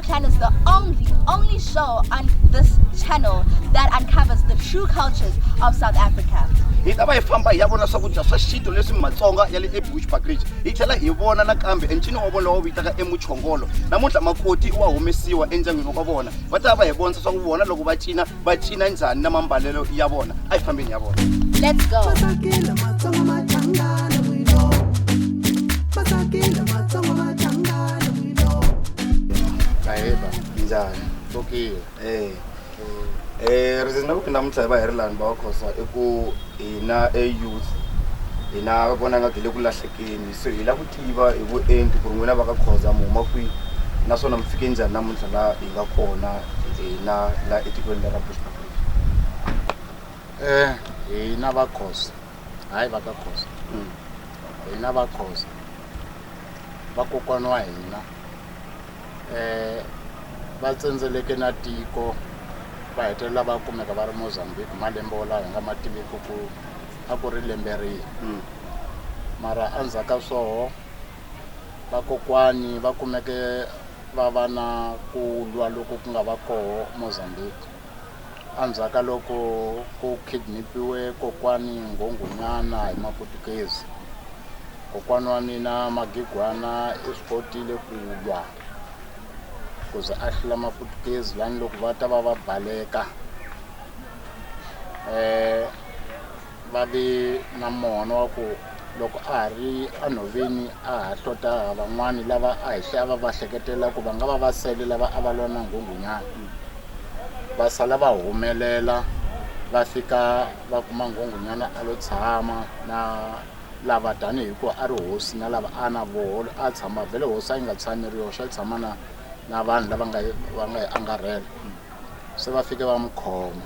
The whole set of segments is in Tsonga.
Channel is the only, only show on this channel that uncovers the true cultures of South Africa. hi ta va hi famba hi ya vona swakudya swa xintu leswi matsonga ya le ebush bakridge hi tlhela hi vona nakambe encini wa vona lowu vitaka emuchongolo namuntlha makoti wa humesiwa endyangwini wa vona va ta va va hi vonisa swa ku vona loko va cina va cina njhani na mambalelo ya vona a yi fambeni ya vona Let's go. Matakile matsongo machangana wilo. Matakile matsongo machangana wilo. Naiba. njhani Tokile. Eh. Eh, reason ku namuntlha hi va hi ri lani bakhosa i ku hina e youth hina vonanga byi le ku lahlekeni Se hi lava ku tiva hi vuenti ku ri n'wina va ka Khoza mi huma kwihi naswona mi fike njhani namuntlha laha hi nga kona hina laha etikweni leri ra Bushbuckridge? Hina va Khoza hayi va ka Khoza hina va Khoza vakokwana wa hina va tsendzeleke na tiko va hetelela va kumeka va ri Mozambique malembe wolawo hi nga ma tiviki ku a ku ri lembe rihi hmm. mara endzhaku ka swoho vakokwani va kumeke va va na ku lwa loko ku nga va koho mozambique endzhaku ka loko ku kidnapiwe kokwani nghonghonyana hi maputukezi kokwani wa mina magigwana i swi kotile ku lwa ku ze a hlula maputukezi lani loko va ta va va baleka eh va ve na mona wa ku loko a ha ri enhoveni a ha hlota van'wani lava a hi hlaya va va hleketela ku va nga va va sele lava a va lwa na nghunghunyana va sala va humelela va fika va kuma nghunghunyana a lo tshama na lava tanihi ku a ri hosi na lava a na voho a tshama vhele hosi a yi nga tshami ri yoxe a tshama na na vanhu lava nga va nga yi angarhela se va fike va n'wi khoma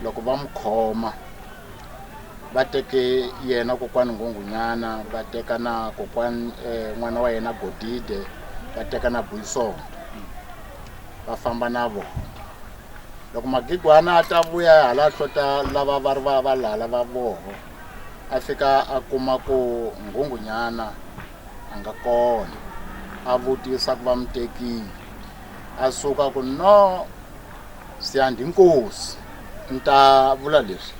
loko va n'wi khoma va teke yena kokwani nghunghunyana va teka na kokwani eh, n'wana wa yena godide va teka na buyisondo va famba na vona loko magigwana a ta vuya hala hlota lava va ri va va lala va voho a fika a kuma ku nghunghunyana a nga kona a vutisa ku va mutekile a suka ku no siyandi nkosi ni ta vula leswi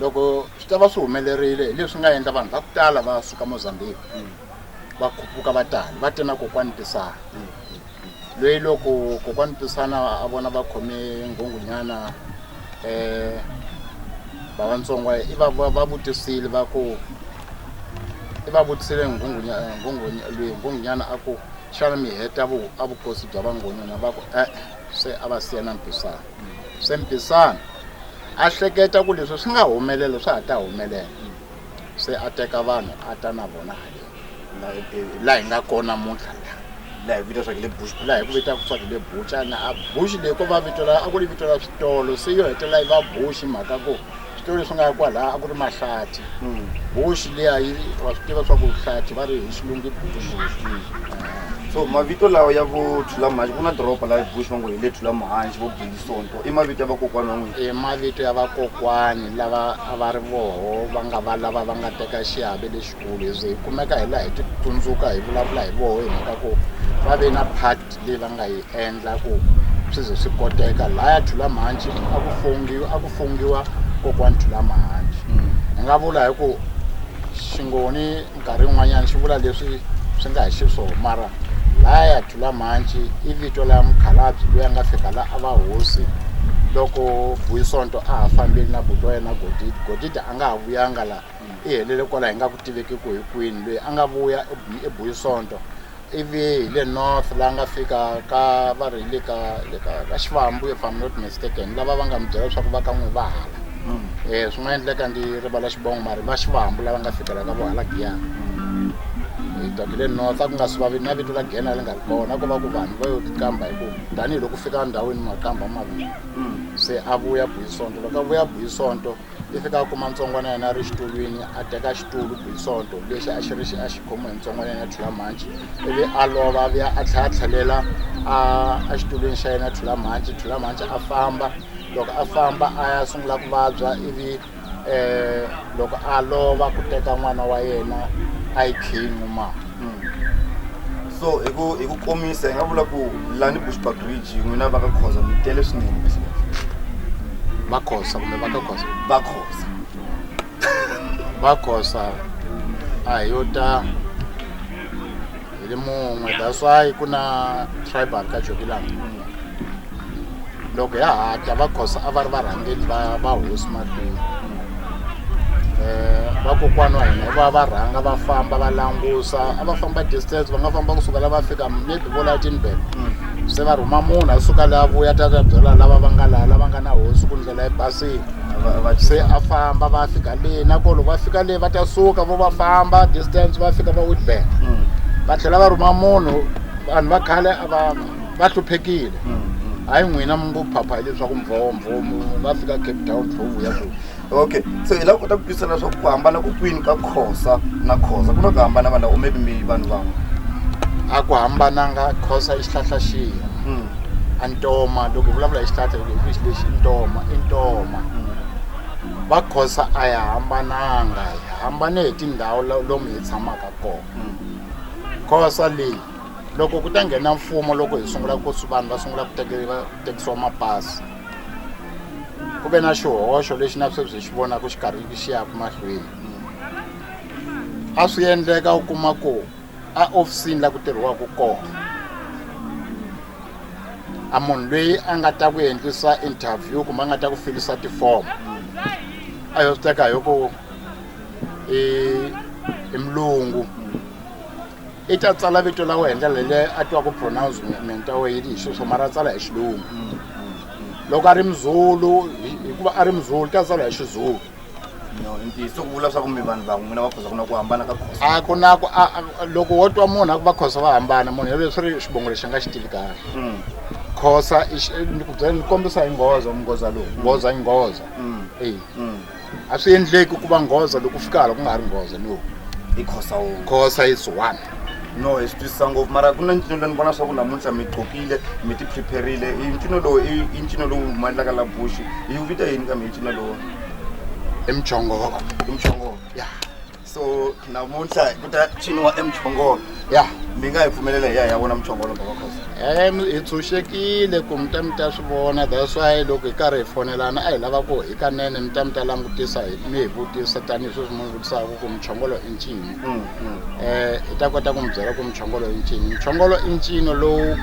loko swi ta va swi humelerile hi leswi nga endla vanhu va ku tala va suka mozambique va khuphuka va tani va te na kokwani tisana loyi loko kokwani tisana a vona va khome nghungunyana um vavantsongo i va va- va vutisile va ku i va vutisile nghungunya- nghungunya- loyi nghungunyana a ku Xana mi heta vu, a vukosi bya vangoni? Na va ku, E-e, se a va siya na mpisana. Se mpisana a hleketa ku leswi swi nga humelela, swa ha ta humelela. Se a teka vanhu a ta na vona haleni laha hi nga kona namuntlha la laha hi vito swa le bush laha hi ku vitaka swa le bucha na a bush leyi ko va vito la a ku ri vito la switolo se yo hetelela yi va bush mhaka ku Switori leswi nga kwalaya a ku ri mahlathi boxi liya yi wa swi tiva swa ku hlathi va ri hi xilungu i bush so mavito lawa ya vo Thulamhanci ku na doroba laha eBush va ngo hi le Thulamhanci vo Bilisonto i mavito ya vakokwana wa n'wina i mavito ya vakokwani lava a va ri voho va nga va lava va nga teka xiave lexikulu hi ze hi kumeka hi laha hi titsundzuka hi vulavula hi voho hi mhaka ku va ve na part leyi va nga yi endla ku swi ze swi koteka laya thulamahanci a ku fongiwa a ku fongiwa kokwani thulamahanci mm. hi nga vula hi ku xingoni nkarhi wun'wanyana xi vula leswi swi nga hi xiswona mara laya thulamahanci i vito la mukhalabyi loyi a nga fika la a va hosi loko buyisonto a ha fambeli na buti wa yena godidi godidi a nga ha vuyanga la I helele kwala hi nga ku tiveki ku hi kwini loyi a nga vuya ebuyi sonto ivi hi le north la nga fika ka va ri le ka le ka ka xivambu if i'm not mistaken lava va nga mi byela leswaku va ka n'wi va hala um swi nga endleka ndi rivala xivongo mari va xivambu lava nga fikela ka vohala giyana hi doke le north a ku nga swi vavi na vito la giyana li nga ri kona ko va ku vanhu va yo kamba hi ku tanihiloko fika ndhawini makamba maviri se a vuya buyi sonto loko a vuya buyi sonto yi fika a kuma ntsongwana ya yena a ri xitulwini a teka xitulu bisonto lexi a xi ri xi a xi khomiwe hi ntsongwana ya yena thula mhanci ivi a lova vuya a tlhela a tlhelela a xitulwini xa yena thula mhanci thula mhanci a famba loko a famba a ya sungula ku vabya ivi um loko a lova ku teka n'wana wa yena a yi khiyi n'wimana so hi ku hi ku komisa hi nga vula ku lani bushbuck ridge n'wina va ka khoza mi tele swinene va khosa kumbe va ka khosa va khosa va khosa a hi yo ta hi ri mun'we that's why ku na tribal ka jokilanga loko ya ha ta va khosa a va ri varhangeli va va hosi mahlweni um eh, vakokwana wa hina va va rhanga va famba va langusa a va famba distance va nga famba kusuka la va fika maybe vo la tinbele mm. se va rhuma munhu a suka la vuya ta ta byela lava va nga laha lava nga na hosi ku ndlela yi basile se a famba va fika leyi nakolo va fika leyi va ta suka vo va famba distance va fika va witbank mm. va tlhela va rhuma munhu vanhu va khale a va va hluphekile hayi n'wina mi ngo phapha hileswaku mvhombho mu nga fika cape town tlhovu ya ku okay so hi lava kota ku twisisa leswaku ku hambana ku kwini ka khosa na khosa ku na ku hambana vanhu lava maybe mi vanhu van'we a ku hambananga khosa i xihlahla xihi Hmm. a ntoma loko hi vulavula hi xihlahla loko hi xi lexi i ntoma i ntoma va khosa a hi hambananga hi hambane hi tindhawu la- lomu hi tshamaka kona Hmm. khosa leyi loko ku ta nghena mfumo loko hi sungula ku swi vanhu va sungula ku tekeriwa tekisiwa mapasi ku ve na xihoxo lexi na sweswi hi xi vonaka xi karhi xi yaka mahlweni a swi endleka u kuma ku a ofisini la ku tirhiwaka kona a munhu loyi a nga ta ku endlisa interview kumbe a nga ta ku filisa tifomo a yo swi teka hi ku i mulungu i ta tsala vito la wena ndlela leyi a twaku pronouncement wa wena hi sweswo mara a tsala hi xilungu loko a ri muzulu hikuva a ri muzulu ta tsala hi xizulu ntiyiso ku vula swa ku mi vanhu van'we n'wina va khosa ku na ku hambana ka khosa a ku na ku loko wo twa munhu a ku va khosa va hambana munhu yelweyo swi ri xivongo lexi a nga xi tivi kahle hmm. khosa ni ku byela ni kombisa hi nghoza munghoza lowu nghoza yi nghoza hmm. eyi hmm. a swi endleki ku va nghoza loko fika hala ku nga ha ri nghoza no i khosa wo khosa is one no hi swi twisisa ngopfu mara ku na ncino lowu ni vona swa ku namuntlha mi qokile mi ti prepare-rile i ncino lowu i i ncino lowu humelelaka la bush yi wu vita yini kambe i ncino lowu i muchongolo i muchongolo ya so namuntlha ku ta ciniwa emuchongolo ya mi nga hi pfumelela hi ya hi ya vona muchongolo baba khosi em hi tshunxekile ku mi ta mi ta swi vona that's why loko hi karhi hi fonelana a hi lava ku hikanene mi ta mi ta langutisa hi- mi hi vutisa tanihi sweswi mi vutisaka ku muchongolo i ncini um hi ta kota ku mi byela ku muchongolo i ncini muchongolo i ncino lowu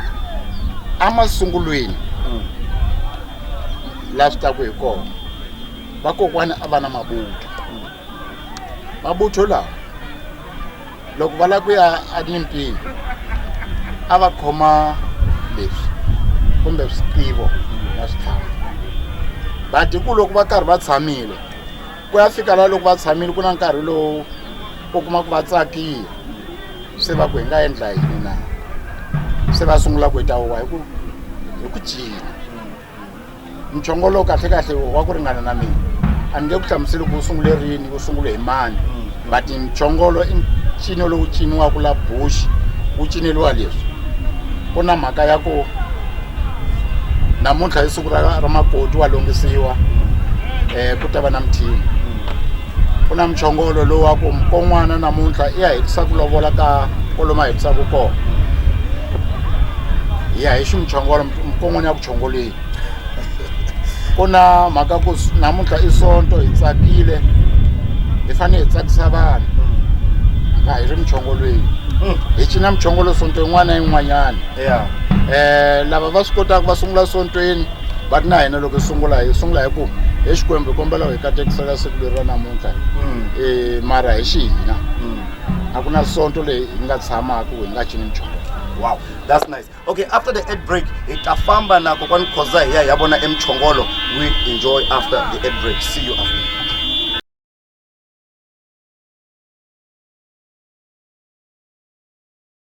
emasungulweni la swi taku hi kona vakokwani a va na mabutwa Mabutho lawa loko va lava ku ya enyimpini a va khoma leswi kumbe switivo na switlhavi va dyi ku loko va karhi va tshamile ku ya fika laha loko va tshamile ku na nkarhi lowu u kuma ku va tsakile se va ku hi nga endla yini na se va sungula ku yi ta huwa hi ku hi ku cina mchongo lowu kahlekahle wa ku ringana na mina a ni nge ku hlamuseli ku wu sungule rini wu sungule hi mani but mchongolo i ncino lowu ciniwaka la bush wu cineliwa leswi ku na mhaka ya ku namuntlha i siku ra ra makoti wa longisiwa um ku ta va na mithini ku na muchongolo lowu wa ku mukon'wana namuntlha i ya hetisa ku lovola ka kolomu a hetisaka kona hi ya hi xi muchongolo mukon'wana ya ku chongoleni ku na mhaka ku namuntlha i sonto hi tsakile hi fanele hi tsakisa vanhu nga hi ri muchongolweni hi cina muchongolo sonto yin'wana na yin'wanyana um lava va swi kotaka va sungula sontweni but na hina loko hi sungula hi sungula hi ku hi xikwembu hi kombela hi katekisela siku leri ra namuntlha um mara hi xi hina mm. a ku na sonto leyi hi nga tshamaka hi nga cini nchumu wow that's nice okay after the ad break hi ta famba na kokwani khoza hi ya hi ya vona emchongolo we enjoy after the ad break see you after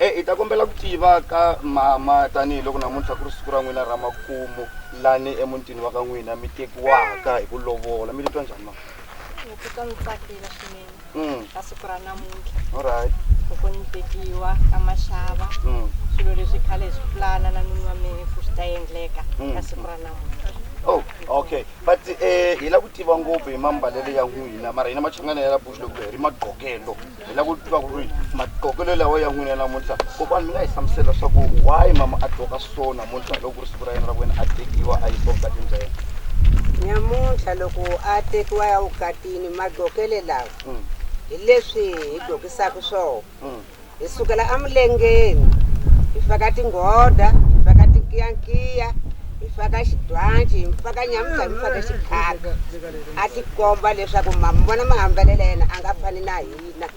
E, hi ta kombela ku tiva ka mama tanihiloko namuntlha ku ri siku ra n'wina ra makumu lani emutini wa ka n'wina mi tekiwaka hi ku lovola mi titwa njhani mama Ni titwa ni tsakile swinene mm. ka siku ra namuntlha alright loko ni tekiwa ka maxava mm. swilo leswi khale hi swi pulana na nuni wa mina ku swi ta endleka Mm. ka siku ra namuntlha oh okay but eh hi la ku tiva ngopfu hi mambalelo ya n'wina mara hina machangana ya la bush loko hi ri magqokelo hi lava ku tiva ku ri maqokelo lawa ya n'wina namuntlha kokwana mi nga hi hlamusela swa ku why mama a qoka so namuntlha loko ku ri siku ra yena ra ku wena a tekiwa a yisiwa vukatini bya yena nyamuntlha loko a tekiwa ya vukatini maqokele lawa mm. hi leswi hi gokisaka swona mm. hi sukela emilengeni hi faka tinghoda hi faka tinkiyankiya hi faka xidwanci hi faka nyamuntlha hi mi faka xikhaka a tikomba leswaku ma mi vona mahambelelo ya yena a nga fani na hina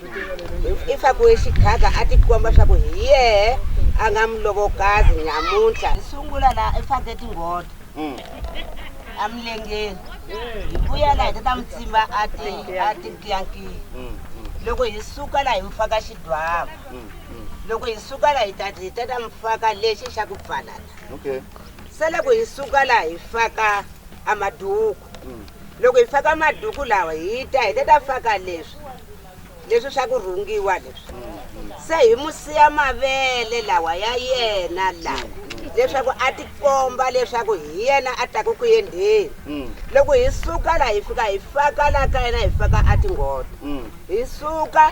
i faku exighaga a tikomba swa ku hi yehe a nga mulovokazi nyamuntlha hi sungula laha i fake tinghodo mm. emilengeni hi vuya laha hi ta ta mi tsimba a tikiyankiya mm, mm. loko hi suka laha hi mi faka xidwava loko hi suka laha hi ta hi ta ta mi faka lexi xa ku pfalala se loko hi suka laha hi faka a maduku loko hi faka maduku lawa hi ta hi ta ta faka leswi leswi swa ku rhungiwa leswi se hi mu siya mavele lawa ya yena lawa leswaku a tikomba leswaku hi yena a taku ku yendheni mm. loko hi suka la hi fika hi faka la ka yena hi faka a tinghoto mm. hi suka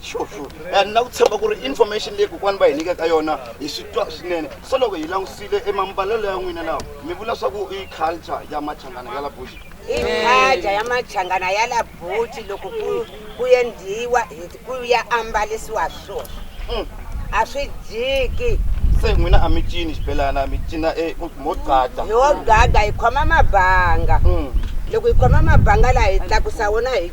sure sure and na ku tshemba ku ri information leyi kokwani va hi nyikaka yona hi swi twa swinene so loko hi langutisile emambalelo ya n'wina lawa mi vula swa ku i culture ya machangana ya la bush i culture ya machangana ya la bush loko ku ku endliwa ku ya ambalisiwa swona mm. a swi jiki se n'wina a mi cini xibelana mi cina e, mo gada yo gada hi khoma mabanga mm. loko hi khoma mabanga laha hi tlakusa wona hi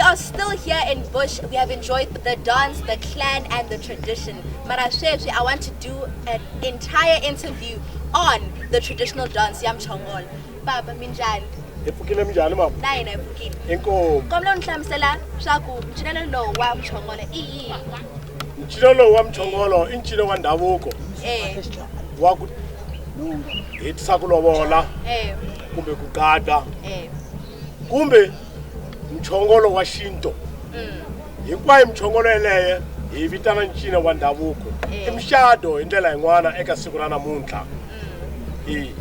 We are still here in Bush. We have enjoyed the dance, the clan, and the tradition. Mara sweswi, I want to do an entire interview on the traditional dance ya Mchongol. Baba minjani? Hi pfukile minjani mama? Na hina hi pfukile. Inkomu. Kombela u ni hlamusela swa ku ncinelo lowu wa Mchongol i yini? Ncinelo lowu wa Mchongol i ncino wa ndhavuko. Eh. Wa ku hetisa ku lovola. Eh. Kumbe ku qada. Eh. Kumbe mchongolo wa xinto hinkwayo mchongolo yeleye hi yi vitana ncina wa ndhavuko i muxado hi ndlela yin'wana eka siku ra namuntlha i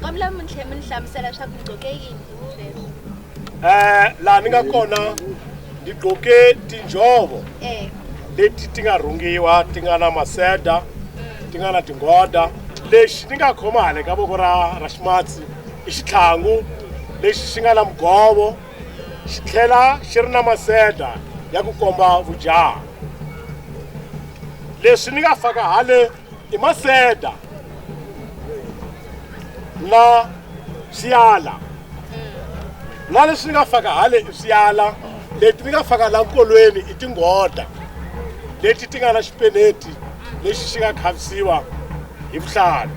kambe mi tlhe mi ni hlamusela leswaku ni gqoke yini sweswi eh laha ni nga kona ni gqoke tinjhovo e leti ti nga rhungiwa ti nga na maseda ti nga na tinghoda lexi ni nga khoma hale ka voko ra ra ximatsi i xitlhangu lexi xi nga na mugovo xi tlhela xi ri na maseta ya ku komba vujaha leswi ni nga faka hale i maseta na swiyala na leswi ni nga faka hale i swiyala leti ni nga faka la nkolweni i tinghota leti ti nga na xipeneti lexi xi nga khavisiwa hi vuhlalu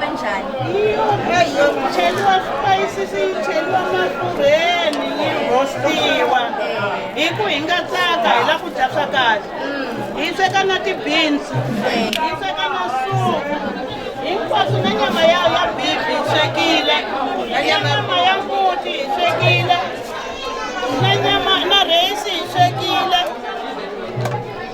kanjani cheliwa swipayisisi yi cheliwa mafurheni yi rostiwa hi ku hi nga tsaka hi la ku dya swa kahle hi tseka na ti-beans hi tseka na suku hinkwaswo na nyama ya ya bibi hi swekile na nyama ya mbuti hi swekile na nyama na rheyisi hi swekile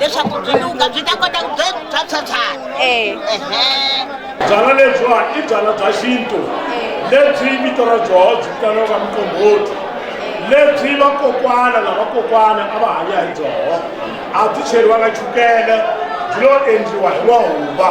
leswaku byi luka byi ta kota ku byi bya phyaphyana eh. byala lebyiwa i byala bya xintu lebyi vito ra byoho byi vitaniwaka muqombhoti lebyi vakokwana na vakokwana a va hanya hi byoho a byi cheriwanga chukele byi lo endliwa hi mahumba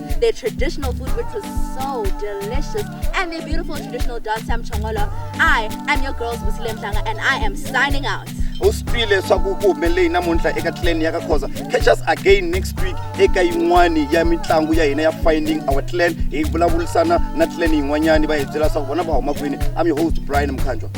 their traditional food, which was so delicious, and their beautiful traditional dance, Sam Chongolo. I am your girls, Muslim Tanga, and I am signing out. u swi twile leswaku ku humelele namuntlha eka clan ya ka khoza catch us again next week eka yin'wani ya mitlangu ya hina ya finding our clan hi vulavurisana na clan yin'wanyani va hi byela leswaku vona va huma kwini i'm your host brian mkhanjwa